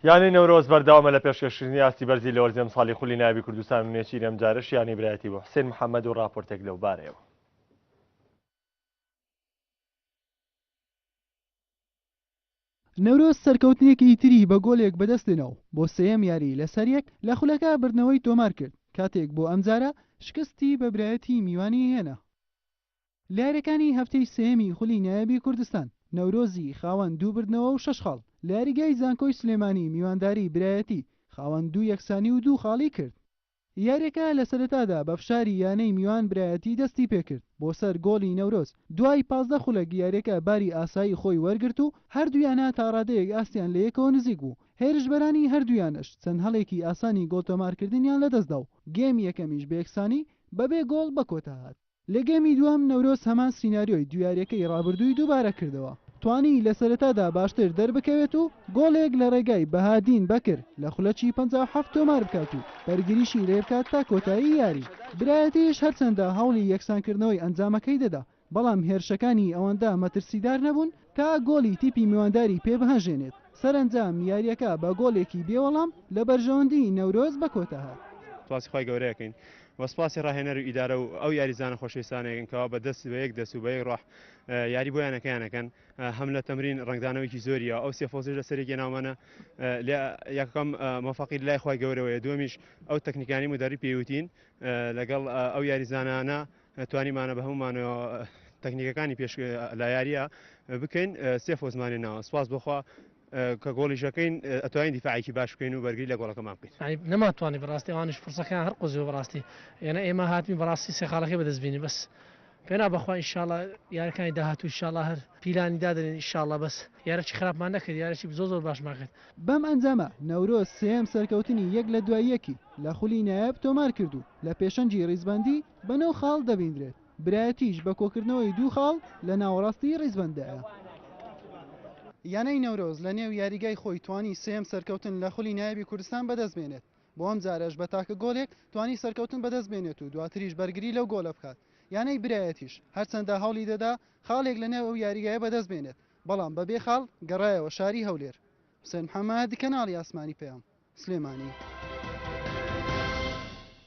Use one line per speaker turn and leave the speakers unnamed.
یانەی نەورۆز بەردەوامە لە پێشکەشکردنی ئاستی بەرزی لەوەرزی ئەمساڵی خولی نایابی کوردستان و نێچیری ئەمجارەش یانەی برایەتی بوو، حسێن محەمەد و ڕاپۆرتێک لەوبارەیەوە.
نەورۆز سەرکەوتنێکی تری بە گۆلێک بەدەستێنا و بۆ سێیەم یاری لەسەریەک لە خولەکە بردنەوەی تۆمارکرد، کاتێک بۆ ئەمجارە شکستی بە برایەتی میوانی هێنا. لەیاریەکانی هەفتەی سێیەمی خولی نایابی کوردستان، نەورۆزی خاوەن دوو بردنەوە و شەش خاڵ، لەیاریگای زانکۆی سلێمانی میوانداری برایەتی خاوەن دوو یەکسانی و دوو خاڵی کرد. یاریەکە لەسەرەتادا بەفشاری یانەی میوان برایەتی دەستی پێکرد بۆ سەر گۆڵی نەورۆز، دوای پازدە خولەک یاریەکە باری ئاسایی خۆی وەرگرت و هەردوو یانە تاڕادەیەک ئاستیان لەیەکەوە نزیک بوو، هێرشبەرانی هەردوو یانەش چەند هەڵێکی ئاسانی گۆڵتۆمارکردنیان لەدەستدا و گێمی یەکەمیش بەیەکسانی بەبێ گۆڵ بەکۆتاهات. لە گێمی دووەم نەورۆز هەمان سیناریۆی دوو یاریەکەی رابردووی دووبارە کردەوە، توانی لە سەرەتادا باشتر دەربکەوێت و گۆڵێک لە رێگای بەهادین بەکر لە خولەکی پەنجا و حەفت تۆمار بکات و بەرگریشی لێبکات تا کۆتایی یاری. برایەتیش هەرچەندە هەوڵی یەکسانکردنەوەی ئەنجامەکەی دەدا، بەڵام هێرشەکانی ئەوەندە مەترسیدار نەبوون، تا گۆڵی تیپی میوانداری پێبهاژێنێت، سەرەنجام یارییەکە بە گۆڵێکی بێ وەڵام لە بەرژەوەندیی نەورۆز بە کۆتا هات. سپاسی خوای گەورە
ئەکەین و سپاسی ڕاهێنەر و ئیدارە و ئەو یاریزانە خۆشەویستانە ئەکەین کەوا بە دەست بە یەک دەست و بە یەک ڕۆح یاری بۆ یانەکەیان ئەکەن هەم لە تەمرین ڕەنگدانەوەیکی زۆری یە ئەو سێ فۆزش لە سەرێکی ناومانە لە یەکەم مۆفەقی لای خوای گەورەوەیە دووەمیش ئەو تەکنیکانی مدەری پێوتین لەگەڵ ئەو یاریزانانە توانیمانە بە هەموو مانەوە تەکنیکەکانی پێش لە یاریە بکەین سێ فۆزمانێ ناوە سپاس بخوا کە گۆڵیشەکەین ئەتوانین دیفاعکی باش بکەین و بەرگری لە گۆڵەکەمان بکەین نەماتوانانی بەڕاستی ئەوانش
فرسەکان هەر قزیۆ بەڕاستی یەنە ئێمە هاتمی بەڕاستی سێخاڵەکەی بەدەستبینی بەس پێنا بەخوا ئیشاڵە یارەکانی داهاتوو شاڵە هەر پیلانی دادرێن ئیشاڵە بەس یارەی خراپمان نەکرد یارەی زۆ زۆر باشمان کرد بەم ئەنجامە
نەورۆز سێم سەرکەوتنی یەک لە دوای یەکی لە خولی نایاب تۆمار کرد و لە پێشەنگی ڕیزبەندی بە نۆ خاڵ دەبیندرێت، برایەتیش بە کۆکردنەوەی دوو خاڵ لە ناوەڕاستی ڕیزبەنددایە. یانەی نەورۆز لە نێو یاریگای خۆی توانی سێیەم سەرکەوتن لە خولی نایابی کوردستان بەدەست بێنێت، بۆ ئەم جارەش بە تاکە گۆلێک توانی سەرکەوتن بەدەست بێنێت و دواتریش بەرگری لەو گۆلە بکات، یانەی برایەتیش هەرچەندە هەوڵی دەدا خاڵێک لە نێو ئەو یاریگایە بەدەست بێنێت، بەڵام بە بێ خاڵ گەڕایەوە شاری هەولێر. حوسێن محەمەد، کەناڵی ئاسمانی پەیام، سلێمانی.